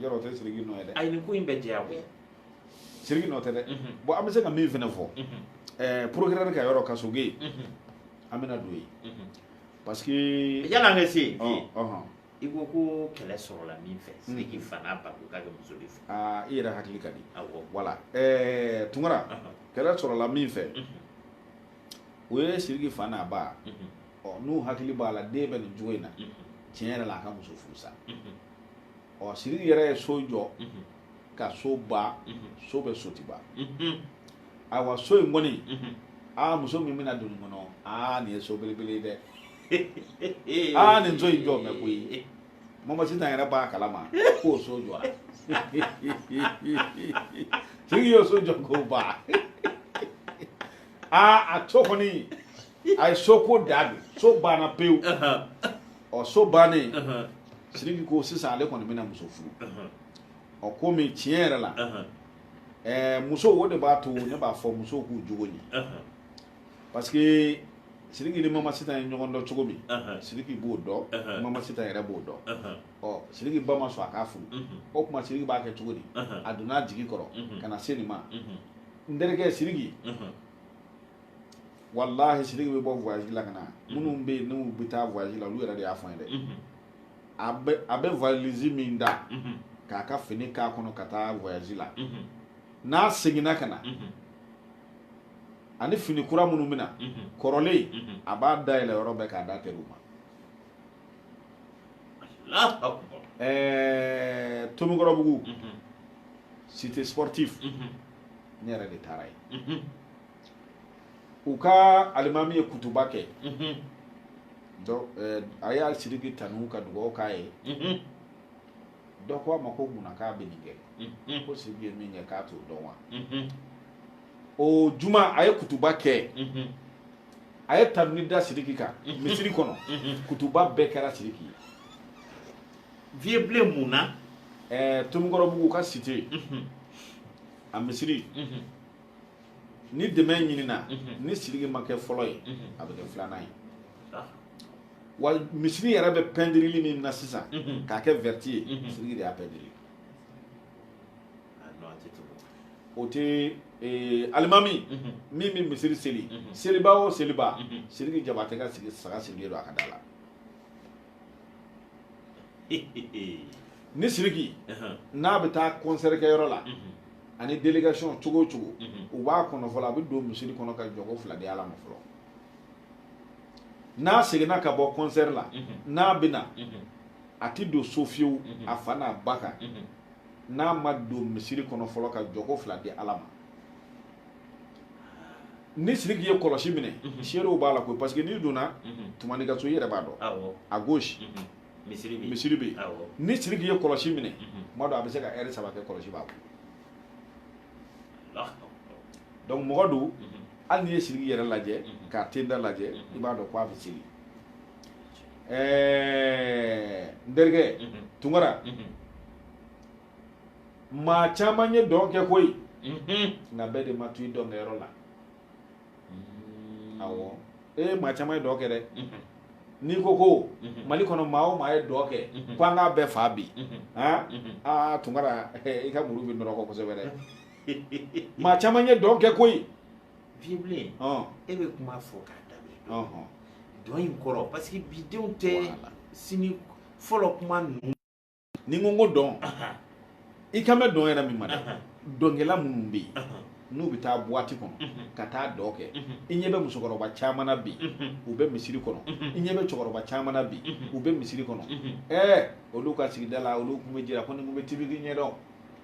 yɔrɔ o tɛ siriki nɔ ye dɛ ayi nin ko in bɛ jɛya koyi siriki nɔ tɛ dɛ bon an bɛ se ka min fana fɔ ɛɛ procureur ka yɔrɔ kasoge ye an bɛna don yen parce que yan'an ka se yen i ko ko kɛlɛ sɔrɔla min fɛ siriki fa n'a ba ko k'a tɛ muso de fɛ aa i yɛrɛ hakili ka di awɔ voilà ɛɛ tunkara kɛlɛ sɔrɔla min fɛ o ye siriki fa n'a ba ɔ n'u hakili b'a la den bɛ nin cogo in na tiɲɛ yɛrɛ la a ka muso furu sa ɔ siriki yɛrɛ ye so jɔ ka so ban so bɛ sotuba ayiwa so in kɔni aa muso min bɛna don nin kɔnɔ aa nin ye so belebele ye dɛ aa nin so in jɔ mɛ koyi mama sitan yɛrɛ b'a kalama k'o so jɔra siriki y'o so jɔ k'o ban aa a to kɔni a ye so ko da don so banna pewu ɔ so bannen siriki ko sisan ale kɔni bɛna muso furu ɔ komi tiɲɛ yɛrɛ la ɛɛ muso o de b'a to ne b'a fɔ musow k'u jogo ɲɛ parce que siriki ni mama sitan ye ɲɔgɔn dɔn cogo min siriki b'o dɔn mama sitan yɛrɛ b'o dɔn ɔ siriki ba ma sɔn a k'a furu o tuma siriki b'a kɛ cogo di a donna a jigi kɔrɔ ka na se nin ma n terikɛ siriki walahi siriki bɛ bɔ voyage la ka na minnu bɛ yen n'u bɛ taa voyage la olu yɛrɛ de y'a fɔ an ye dɛ a bɛ a bɛ valise min ta k'a ka fini k'a kɔnɔ ka taa voyage la n'a seginna ka na a ni fini kura minnu bɛ na kɔrɔlen a b'a dayɛlɛ yɔrɔ bɛɛ k'a d'a teriw ma ɛɛ tomikɔrɔbugu cité sportive ne yɛrɛ de taara yen u ka alimami ye kutuba kɛ mhm. eh, a y'a siriki tanu ka dugawu k'a ye mhm. dɔ ko a ma ko munna k'a bɛ nin kɛ mhm. ko siriki ye min kɛ k'a t'o dɔn wa o juma a ye kutuba kɛ a ye tanuni da siriki kan misiri kɔnɔ kutuba bɛɛ kɛra siriki ye vieux bilen mun na eh, tomikɔrɔbugu ka cité a misiri ni dɛmɛ ɲinina ni siriki ma kɛ fɔlɔ ye a bɛ kɛ filanan ye wa misiri yɛrɛ bɛ pɛndirili min na sisan k'a kɛ vɛriti ye siriki de y'a pɛndiri o tɛ eh, alimami min bɛ misiri seli seliba o seliba siriki jabatɛ ka sigi saga sirilen don a ka da la ni siriki n'a bɛ taa kɔnsɛri kɛ yɔrɔ la a ni delegasiɔn cogo o cogo u b'a kɔnɔ fɔlɔ a bɛ don misiri kɔnɔ ka jɔko fila di ala ma fɔlɔ n'a seginna ka bɔ kɔnsɛri la n'a bɛ na a tɛ don so fiyewu a fa n'a ba kan n'a ma don misiri kɔnɔ fɔlɔ ka jɔko fila di ala ma ni siriki ye kɔlɔsi minɛ mhm. seerew b'a la koyi parce que n'i donna mhm. tumani ka so i yɛrɛ b'a dɔn à gauche mhm. misiri bɛ yen ni siriki ye kɔlɔsi minɛ tuma dɔ a bɛ se ka ɛri saba kɛ kɔlɔsi b'a bolo donc mɔgɔ don hali n'i ye siriki yɛrɛ lajɛ k'a tenda lajɛ i b'a dɔn ko a bɛ seli ɛɛ n terikɛ tunkara maa caman ye dɔn kɛ koyi mhm. nka bɛɛ de ma to i dɔnkɛyɔrɔ la mm. awɔ e ye maa caman ye dɔn kɛ dɛ mhm. n'i ko ko mhm. mali kɔnɔ maa o maa ye dɔn kɛ ko an k'a bɛɛ fa bi aa tunkara i ka muru bɛ nɔrɔ kɔ kosɛbɛ dɛ maa caman ye dɔn kɛ koyi vieux bilen e bɛ kuma fɔ k'a daminɛ dɔn in kɔrɔ parce que bidenw tɛ sini fɔlɔ kuma ninnu n'i ko ko dɔn i kan bɛ dɔn yɛrɛ min ma dɛ dɔnkɛla minnu bɛ yen n'u bɛ taa buwati kɔnɔ ka taa dɔn kɛ i ɲɛ bɛ musokɔrɔba caman na bi u bɛ misiri kɔnɔ i ɲɛ bɛ cɛkɔrɔba caman na bi u bɛ misiri kɔnɔ ɛɛ olu ka sigida la olu tun bɛ jira ko nin tun bɛ tibiki ɲɛdɔn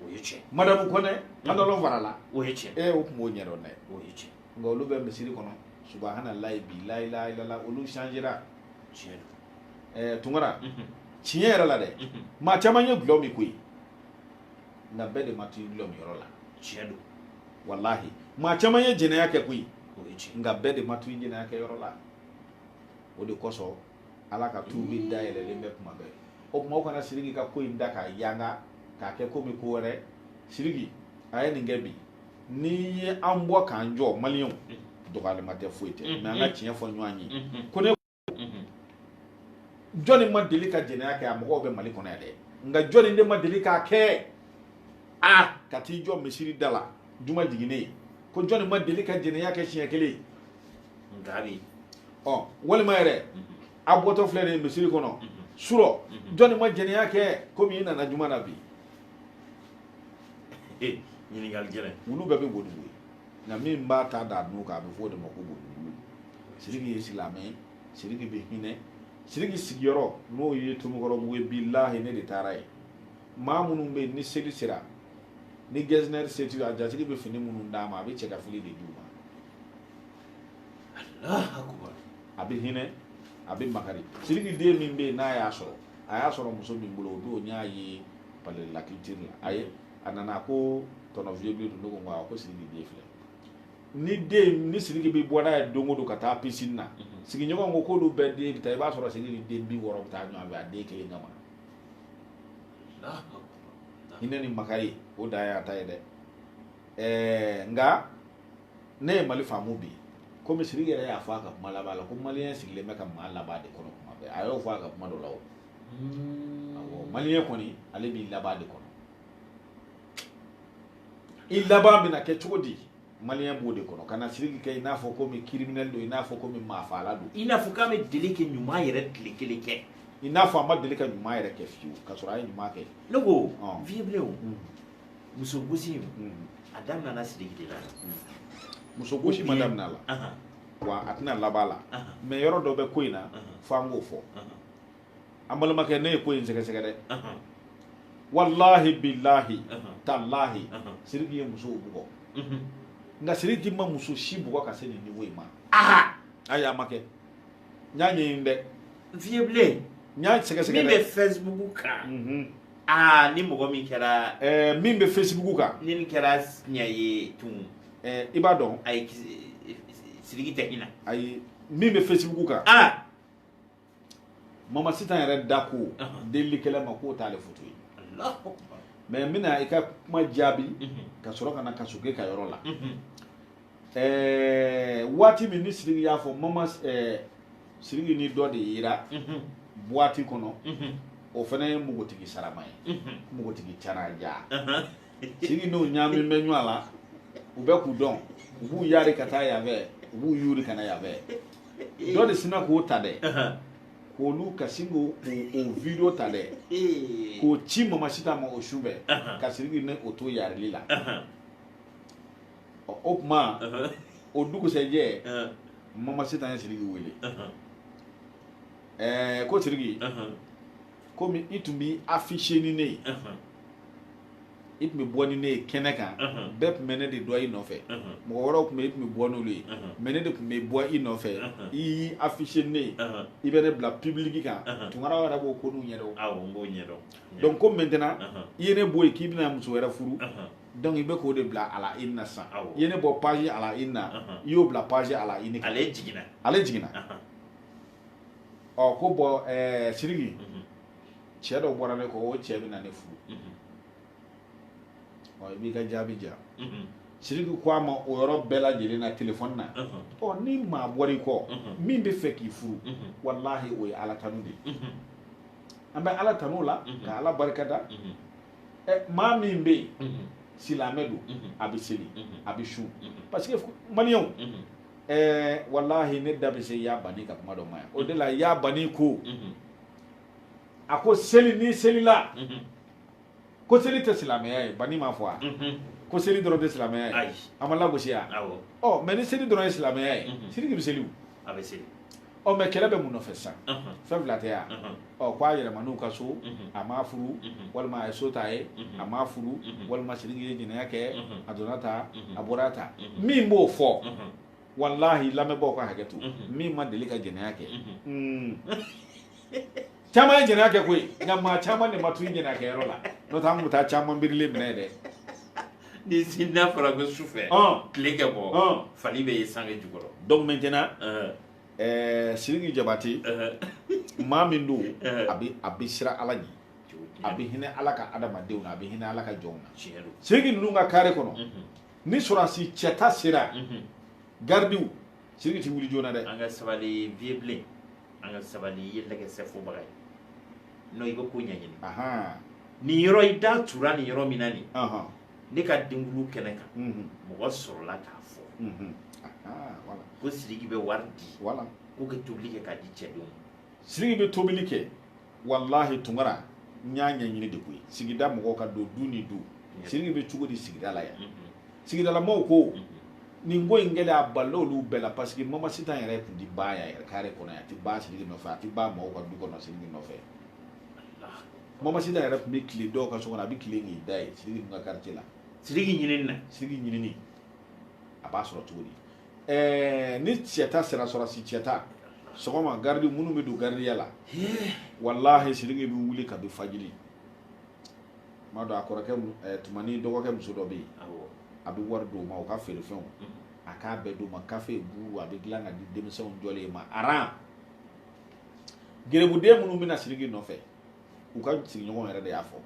o ye tiɲɛ madamu kɔnɛ pantalon farala o ye tiɲɛ ee o tun b'o ɲɛdɔn dɛ o ye tiɲɛ nka olu bɛ misiri kɔnɔ subahana layi bi layilahilala olu changera tiɲɛ don ɛɛ tunkara tiɲɛ yɛrɛ la dɛ maa caman ye gulɔ min koyi nka bɛɛ de ma t'i gulɔ min yɔrɔ la tiɲɛ don walahi maa caman ye jɛnɛya kɛ koyi nka bɛɛ de ma t'i jɛnɛya kɛ yɔrɔ la o de kosɔn ala ka tuubi dayɛlɛlen bɛ kuma bɛɛ o tuma o kana siriki ka ko in da k'a yanga k'a kɛ komi ko wɛrɛ siriki a ye nin kɛ bi n'i ye an bɔ k'an jɔ maliyɛnw dɔgɔyalima tɛ foyi tɛ mais an ka tiɲɛ fɔ ɲɔgɔn ye ko ne jɔnni ma deli ka jɛnɛya kɛ a mɔgɔw bɛ mali kɔnɔ yan dɛ nka jɔnni de ma deli k'a kɛ a ka t'i jɔ misiri da la juma jiginnen ko jɔnni ma deli ka jɛnɛya kɛ siɲɛ kelen gabi ɔ walima yɛrɛ a bɔtɔ filɛ nin misiri kɔnɔ surɔ jɔnni ma jɛnɛya kɛ komi i nana juma na bi e, ɲininkali gɛlɛn wulu bɛɛ bɛ bo dun koyi nka min b'a ta d'a nun kan a bɛ fɔ o de ma ko bodun siriki ye silamɛ ye siriki bɛ hinɛ siriki sigiyɔrɔ n'o ye tomikɔrɔbugu ye bilahi ne de taara yen maa minnu bɛ yen ni seli sera ni gɛzinɛri seti a jatigi bɛ fini minnu d'a ma a bɛ cɛ ka fili de d'u ma a bɛ hinɛ a bɛ makari siriki den min bɛ yen n'a y'a sɔrɔ a y'a sɔrɔ muso min bolo o don n y'a ye palais de la culture la a ye a nana ko tonton vieux bilen don ne ko ko a ko siriki den filɛ ni den ni siriki bɛ bɔ n'a ye don o don ka taa piscine na sigiɲɔgɔn ko k'olu bɛɛ den bɛ taa i b'a sɔrɔ siriki ni den bi wɔɔrɔ bɛ taa ɲɔgɔn fɛ a den kelen kama hinɛ ni makari o dan y'a ta ye dɛ ɛɛ nka ne ye mali faamu bi komi siriki yɛrɛ y'a fɔ a ka kuma laban la ko maliyɛn sigilen bɛ ka maa laban de kɔnɔ kuma bɛɛ a y'o fɔ a ka kuma dɔ la o awɔ maliyɛn kɔni ale b'i laban de kɔnɔ i laban bɛna kɛ cogo di maliyɛn b'o de kɔnɔ ka na siriki kɛ i n'a fɔ komi criminel don i n'a fɔ komi maafaala don i n'a fɔ k'a ma deli ka ɲuman yɛrɛ tile kelen kɛ i n'a fɔ a ma deli ka ɲuman yɛrɛ kɛ fiyewu ka sɔrɔ a ye ɲuman kɛ ne ko Ɔn. vieux bilen Mm. muso gosi in Mm. a daminɛna siriki de la muso gosi ma daminɛ a la Ahan, wa a tɛna laban a la ahan, mais yɔrɔ dɔ bɛ ko in na ahan, f'an k'o fɔ ahan. an balimakɛ ne ye ko in sɛgɛsɛgɛ dɛ wallahi billahi tallahi siriki ye musow bugɔ mhm. nka siriki ma muso si bugɔ ka se nin niveau in ma ayi a ma kɛ n y'a ɲɛɲini dɛ vieux bilen n y'a sɛgɛsɛgɛ min bɛ facebook kan mhm. aa ni mɔgɔ min kɛra eh, min bɛ facebook kan ni nin kɛra tiɲɛ ye tun eh, i b'a dɔn ayi siriki tɛ hinɛ ayi min bɛ facebook kan aa mamasita yɛrɛ da ko delikɛla ma k'o t'ale foto ye mais n bɛna i ka kuma jaabi ka sɔrɔ ka na kasoke ka yɔrɔ la waati min ni siriki y'a fɔ mama siriki ni dɔ de yera boîte kɔnɔ o fana ye npogotigi sarama ye npogotigi caraja siriki n'o ɲaamin bɛ ɲɔgɔn la u bɛ k'u dɔn u b'u yaari ka taa yan fɛ u b'u yuuri ka na yan fɛ dɔ de sinna k'o ta dɛ k'olu ka sin k'o o video ta dɛ k'o ci mamasita ma o su bɛɛ ka siriki ni o to yarili la ɔ o kuma o dugusɛjɛ mamasita ye siriki wele ɛɛ ko siriki komi i tun b'i afficher ni ne ye i tun bɛ bɔ ni ne ye kɛnɛ kan bɛɛ tun bɛ ne de dɔn i nɔfɛ mɔgɔ wɛrɛw tun bɛ i tun bɛ bɔ n'olu ye mais ne de tun bɛ bɔ i nɔfɛ i y'i afficher ni ne ye i bɛ ne bila public kan tunkaraw yɛrɛ b'o ko n'u ɲɛdɔn awɔ n b'o ɲɛdɔn donc ko maintenant i ye ne bɔ yen k'i bɛna muso wɛrɛ furu donc i bɛ k'o de bila à la une na sisan i ye ne bɔ page à la une na i y'o bila page à la une ale jiginna ale jiginna ɔ ko bon ɛɛ siriki mhm. cɛ dɔ bɔra ne kɔ o cɛ bɛ na ne furu mhm. ɔ i b'i ka jaabi ja mhm. siriki ko a ma o yɔrɔ bɛɛ lajɛlen na telefɔni na ɔ ni maa bɔra i kɔ min bɛ fɛ k'i furu walahi o ye ala tanu de ye an bɛ ala tanu o la ka ala barika da ɛ eh, maa min bɛ yen silamɛ don a bɛ seli a bɛ sun parce que maliyɛnw. ɛɛ walahi ne da bɛ se ya bani ka kuma dɔ ma yan o de la ya bani ko a ko seli ni selila ko seli tɛ silamɛya ye bani m'a fɔ a ko seli dɔrɔn tɛ silamɛya ye a m'a lagosi a ɔ mais ni seli dɔrɔn ye silamɛya ye siriki bɛ seli a bɛ seli ɔ mais kɛlɛ bɛ mun nɔfɛ sisan fɛn fila tɛ yan ɔ ko a yɛlɛmana u ka so a m'a furu walima a ye so ta ye a m'a furu walima siriki ye jɛnɛya kɛ a donna tan a bɔra tan min b'o fɔ walahi lamɛnbaaw ka hakɛ to min ma deli ka jɛnɛya kɛ caman ye jɛnɛya kɛ koyi nka maa caman de ma t'u jɛnɛya kɛ yɔrɔ la n'o tɛ an tun bɛ taa caman birilen minɛ dɛ ni n'a fɔra ko su fɛ tile ka bɔ fali bɛ ye sange jukɔrɔ donc maintenant ɛɛ sidiki jabate maa min don a bɛ a bɛ siran ala ɲɛ a bɛ hinɛ ala ka adamadenw na a bɛ hinɛ ala ka jɔnw na sidiki ninnu ka kare kɔnɔ ni sɔrɔdasi cɛta sera garidiw sidiki tɛ wuli joona dɛ an ka sabali viye bilen an ka sabali i ye lɛgɛsɛfɔbaga ye non i bɛ ko ɲɛɲini nin yɔrɔ i da tura nin yɔrɔ min na nin ne ka denkundi kɛnɛ kan mhm. mɔgɔ sɔrɔla k'a fɔ mhm. ko sidiki bɛ wari di k'u ka tobili kɛ k'a di cɛdenw ma sidiki bɛ tobili kɛ walahi tunkara n y'a ɲɛɲini de koyi sigida mɔgɔw ka don du ni du siriki bɛ cogo di sigida la yan sigidalamaw ko nin ko in kɛlen a balila olu bɛɛ la parce que mamasita yɛrɛ tun ti ba yan yɛrɛ kare kɔnɔ a ti ba siriki nɔfɛ a ti ba mɔgɔw ka du kɔnɔ siriki nɔfɛ mamasita yɛrɛ tun bɛ tile dɔw ka so kɔnɔ a bɛ tile k'i da yen siriki tun ka quartier la siriki ɲinini na siriki ɲinini a b'a sɔrɔ cogo di ni cɛta sera sɔrɔdasi cɛta sɔgɔma garidi minnu bɛ don garidiya la walahi sidiki bɛ wuli kabi fajiri madu a kɔrɔkɛ tumani dɔgɔkɛ muso dɔ bɛ yen a bɛ wari d'o ma o ka feerefɛnw a k'a bɛɛ d'o ma kafe buuru a bɛ dilan ka di denmisɛnw jɔlen ma aran garibuden minnu bɛ na sidiki nɔfɛ u ka sigiɲɔgɔn yɛrɛ de y'a fɔ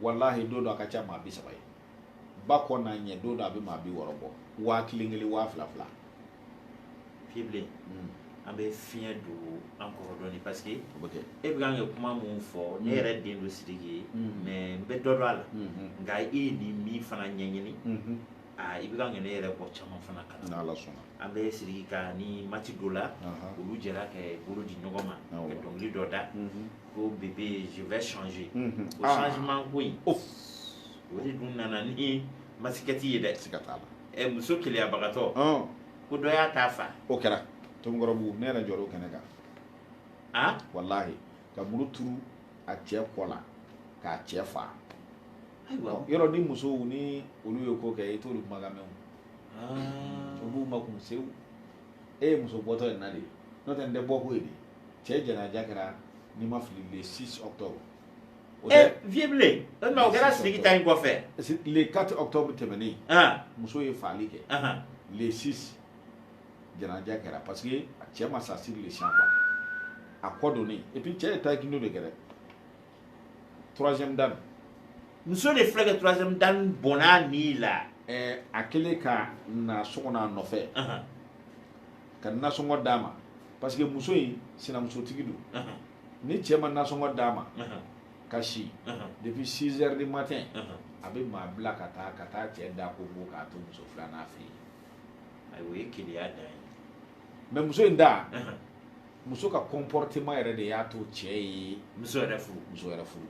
walahi don dɔ a ka ca maa bi saba ye ba kɔ n'a ɲɛ don dɔ a bɛ maa bi wɔɔrɔ bɔ waa kelen kelen waa fila fila vie bilen hmm. an bɛ fiɲɛ don an kɔrɔ dɔɔni parce que e bɛ kan ka kuma min fɔ ne hmm. yɛrɛ den don sidiki ye hmm. mais n bɛ dɔ dɔn a la nka e ye nin min fana ɲɛɲini aa i bɛ kan ka ne yɛrɛ bɔ caman fana kalan n'ala sɔnna an bɛ sidiki ka ni mati dɔ la olu jɛra ka bolo di ɲɔgɔn ma ka dɔnkili dɔ da ko bébé je vais changer o ah. changement ko in o de dun nana ni masikɛti ye dɛ siga t'a la ɛ muso keleyabagatɔ ko dɔ y'a ta fa o kɛra tomikɔrɔbugu ne yɛrɛ jɔr'o kɛnɛ kan a walahi ka muru turu a cɛ kɔ la k'a cɛ fa yɔrɔ ni musow ni olu ye ko kɛ i t'olu kumakan mɛn u b'u makun sewu e ye muso bɔtɔ ye na de n'o tɛ n tɛ bɔ ko ye de cɛ janaja kɛra ni n ma fili le 6 octobre vie bilen o kɛra sidiki ta in kɔfɛ le 4 octobre tɛmɛnen muso ye fagali kɛ le 6 janaja kɛra parce que a cɛ ma sa sur le champ a kɔ don et puis cɛ ye taekwondo de kɛ dɛ troisième dan muso de filɛ ka troisième dan bɔn'a ni la a kɛlen ka na so kɔnɔ a nɔfɛ ka nasɔngɔ d'a ma parce que muso in sinamusotigi don ni cɛ ma nasɔngɔ d'a ma ka si depuis 6 heures du matin a bɛ maa bila ka taa ka taa cɛ da konko k'a to muso filanan fɛ yen ayi o ye keleya dan ye mais muso in da muso ka comportement yɛrɛ de y'a to cɛ ye muso wɛrɛ furu muso wɛrɛ furu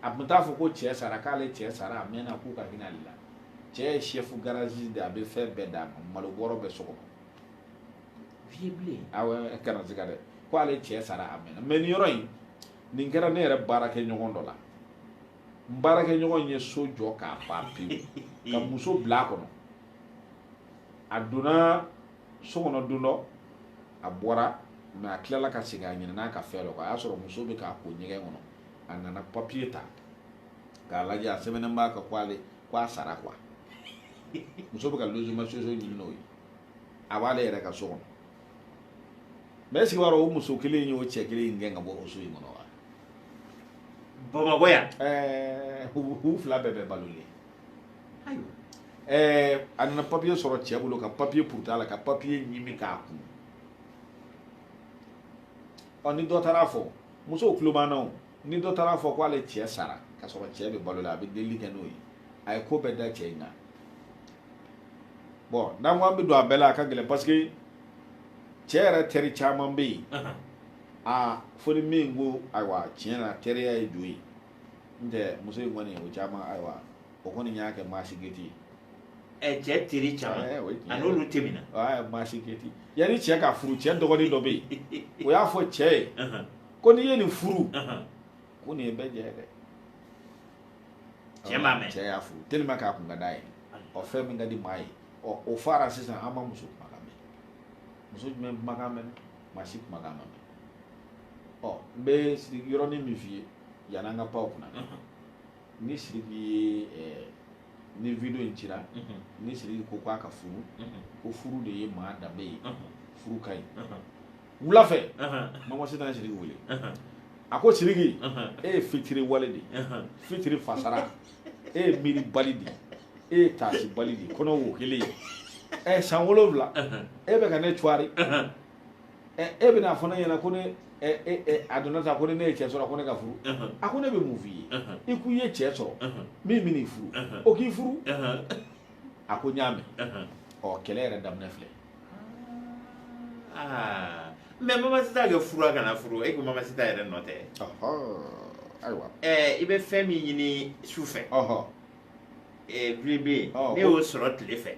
a tun t'a fɔ ko cɛ sara k'ale cɛ sara a mɛnna k'u ka hinɛ ale la cɛ ye chef garage de ye a bɛ fɛn bɛɛ d'a ma malo bɔrɔ bɛ so kɔnɔ vie bilen awɔ kana siga dɛ ko ale cɛ sara a mɛnna mais nin yɔrɔ in nin kɛra ne yɛrɛ baarakɛɲɔgɔn dɔ la n baarakɛɲɔgɔn ye so jɔ k'a ban pewu ka muso bila a kɔnɔ a donna so kɔnɔ don dɔ a bɔra mais a tilala ka segin a ɲinɛna ka fɛn dɔ kɔ a y'a sɔrɔ muso bɛ k'a ko ɲɛgɛn kɔnɔ a nana papiye ta k'a lajɛ a sɛbɛnnen b'a kan ko ale ko a sara quoi muso bɛ ka logement sociaux ɲini n'o ye a b'ale yɛrɛ ka so kɔnɔ mais est ce que i b'a dɔn o muso kelen in y'o cɛ kelen in gɛn ka bɔ o so in kɔnɔ wa bamakɔ yan ɛɛ u u fila bɛɛ bɛ balolen ayiwa ɛɛ a nana papiye sɔrɔ cɛ bolo ka papiye purut'a la ka papiye ɲimi k'a kunu ɔ ni dɔ taara fɔ musow tulo b'an na o ni dɔ taara fɔ k'ale cɛ sara ka sɔrɔ cɛ bɛ balo la a bɛ delili kɛ n'o ye a ye ko bɛɛ da cɛ in kan bon n'an ko an bɛ don a bɛɛ la a ka gɛlɛn parce que cɛ yɛrɛ teri caman bɛ yen aa fo ni min ko ayiwa tiɲɛ na teriya ye jo ye n tɛ muso in kɔni o caman ayiwa o kɔni y'a kɛ maasi geti ye ɛ cɛ teri caman Eh, o ye tiɲɛ ani ye. olu tɛ minɛ aa maasi geti yanni cɛ ka furu cɛ dɔgɔnin dɔ bɛ yen o y'a fɔ cɛ ye ko n'i ye nin furu ko nin ye bɛɛ jɛ dɛ cɛ m'a mɛn cɛ y'a furu tellement k'a ko ka d'a ye ɔ fɛn min ka di maa ye ɔ o fara sisan an ma muso kumakan mɛn muso jumɛn kumakan mɛn maa si kumakan ma mɛn ɔ n bɛ siriki yɔrɔnin min f'i ye yanni an ka pan o kunna ni siriki ye eh, ni video in cira ni siriki ko k'a ka furu ko furu de ye maa danbe ye furu ka ɲi wula fɛ mama sitan ye siriki wele a ko siriki e ye fitiriwale de fitiri fasara e ye miiribali de e ye taasibali de kɔnɔ wo kelen ye ɛ san wolonwula e bɛ ka ne cuwari ɛ e bɛna fɔ ne ɲɛna ko ne a donna sa ko ne ye cɛ sɔrɔ ko ne ka furu a ko ne bɛ mun f'i ye i ko i ye cɛ sɔrɔ min bɛ n'i furu o k'i furu a ko n y'a mɛn ɔ kɛlɛ yɛrɛ daminɛ filɛ mais mama sitan kɛ furu a kana furu e ko mama sitan yɛrɛ nɔ tɛ ayiwa i bɛ fɛn min ɲini su fɛ dibi bɛ yen n'e y'o sɔrɔ tile fɛ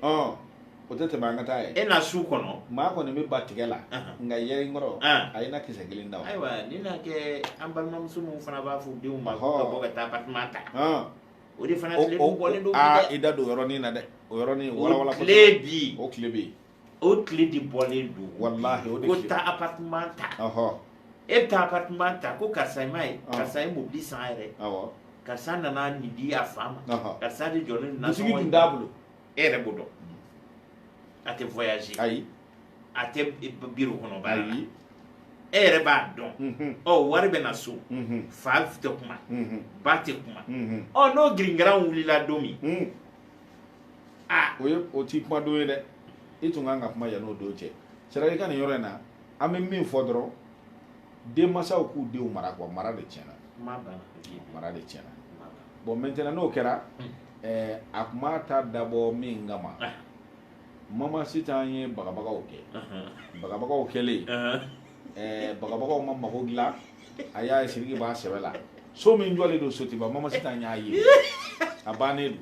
o tɛ tɛmɛ an ka taa ye e na su kɔnɔ maa kɔni bɛ ba tigɛ la nka yɛrɛ kɔrɔ a ye na kisɛ kelen da ayiwa ni na kɛ an balimamuso minnu fana b'a fɔ denw ma ka bɔ ka taa appartement ta o de fana tile dun bɔlen don bi dɛ i da don yɔrɔnin na dɛ o yɔrɔnin walawala o tile bi o tile bi o tile de bɔlen don walahi o de ko taa appartement ta ɔhɔ e bɛ taa appartement ta ko karisa i m'a ye karisa ye mobili san yɛrɛ awɔ karisa nana nin di a fa ma karisa de jɔlen don nasɔngɔ in na dusigi dun t'a bolo e yɛrɛ b'o dɔn a tɛ voyager ayi a tɛ biro kɔnɔ baara la e yɛrɛ b'a dɔn ɔ wari bɛ na so fa tɛ kuma ba tɛ kuma ɔ n'o giringaran wulila don min aa o ye o t'i kuma don ye dɛ i tun kan ka kuma yan'o don cɛ c'est-à-dire i ka nin yɔrɔ in na an bɛ min fɔ dɔrɔn denmasaw k'u denw mara quoi mara de tiɲɛna mara de tiɲɛna bon maintenant n'o kɛra ɛɛ a kuma ta dabɔ min kama mama sitan ye bagabagaw kɛ bagabagaw kɛlen bagabagaw ma mago dilan a y'a ye siriki b'a sɛbɛ la so min jɔlen don sotuba mama sitan y'a ye a bannen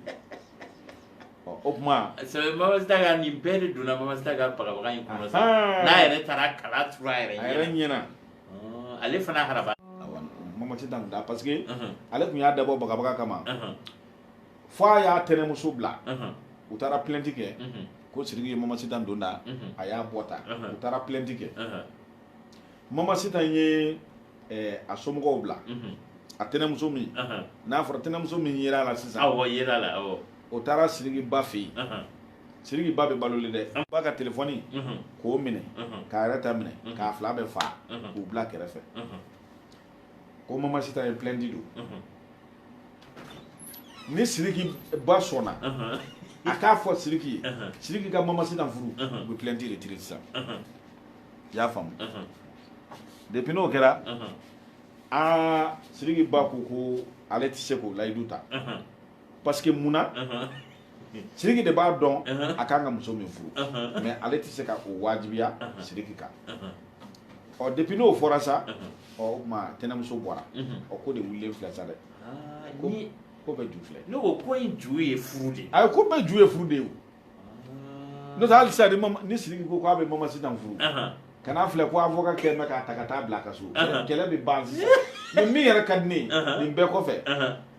don o tuma sɛbɛ mama sitan ka nin bɛɛ de donna mama sitan ka bagabaga in kɔnɔ sa n'a yɛrɛ taara kala turu a yɛrɛ ɲɛ na a yɛrɛ ɲɛ na ale fana haraba mama sitan da parce que ale tun y'a dabɔ bagabaga kama fo a y'a tɛnɛmuso bila u taara plainte kɛ ko Sidiki ye Mama Sitan don ta a y'a bɔ ta u taara plainte kɛ Mama Sitan ye a somɔgɔw bila a tɛnɛmuso min n'a fɔra tɛnɛmuso min yirala sisan awɔ yirala awɔ o taara Sidiki ba fɛ yen Sidiki ba bɛ balolen dɛ ba ka telefɔni k'o minɛ k'a yɛrɛ ta minɛ k'a fila bɛɛ faga k'u bila kɛrɛfɛ ko mama sitan ye plainte don ni siriki ba sɔnna a k'a fɔ siriki ye siriki ka mama sitan furu u bɛ plainte retirer sisan i y'a faamu depuis n'o kɛra aa siriki ba ko ko ale tɛ se k'o layidu ta parce que mun na siriki de b'a dɔn uh-huh. a kan ka muso min furu uh-huh. mais ale tɛ se ka o wajibiya uh-huh. siriki kan ɔ depuis n'o fɔra sa ɔ o tuma tɛnɛmuso bɔra ɔ ko de wulilen filɛ sa dɛ ah, ko bɛɛ ju filɛ ne ko ko in ju ye furu de ye ayi ko bɛɛ ju ye furu de ye o ah. n'o tɛ hali sisan ni siriki ko k'a bɛ mama sitan furu kana filɛ ko avocat kɛ mɛ k'a ta ka taa bila a ka so kɛlɛ bɛ ban sisan mais min yɛrɛ ka di ne ye nin bɛɛ kɔfɛ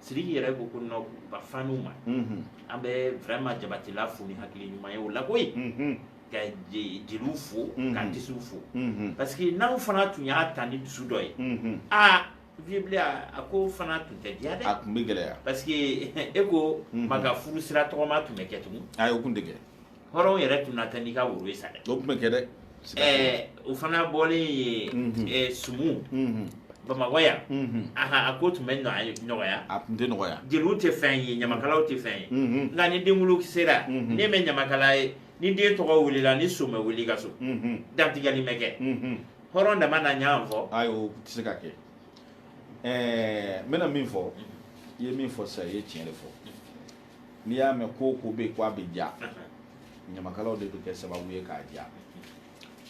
Sidiki yɛrɛ ko ko non a faniw ma, unhun, an bɛ vraiment Jabatela fo ni hakili ɲuman ye o la koyi, unhun, ka jeliw fo, unhun, ka artistes fo, unhun, parce que n'aw fana tun y'a ta ni dusu dɔ ye, unhun, aa Vieux Blé a ko fana tun tɛ diya dɛ, a tun bɛ gɛlɛya parce que e ko maa ka furu sira tɔgɔma tun bɛ kɛ tugun, ayi o tun tɛ kɛ hɔrɔn yɛrɛ tun na taa n'i ka woro ye sa dɛ o tun bɛ kɛ dɛ ɛɛ o fana bɔlen ye ɛɛ sumu bamakɔ yan a ko tun bɛ nɔgɔya a tun tɛ nɔgɔya jeliw tɛ fɛn ye ɲamakalaw tɛ fɛn ye nka ni denwolo sera n'i ma ɲamakala ye ni den tɔgɔ wulila ni su bɛ wuli ka su dantigɛli bɛ kɛ hɔrɔn dama na ɲan fɔ ayi o tɛ se ka kɛ ɛɛ n bɛna min fɔ i ye min fɔ sisan i ye tiɲɛ de fɔ n'i y'a mɛn ko ko bɛ ko a bɛ diya ɲamakalaw de bɛ kɛ sababu ye k'a diya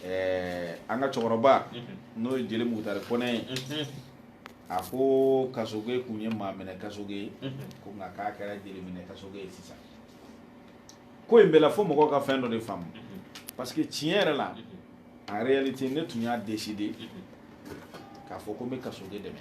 ɛɛ an ka cɛkɔrɔba n'o ye jeli mukutari kɔnɛ ye a ko kasoge kun ye maa minɛ kasoge ye ko nka k'a kɛra jeli minɛ kasoge ye sisan ko in bɛɛ la fo mɔgɔw ka fɛn dɔ de faamu parce que tiɲɛ yɛrɛ la en réalité ne tun y'a décider k'a fɔ ko n bɛ kasoge dɛmɛ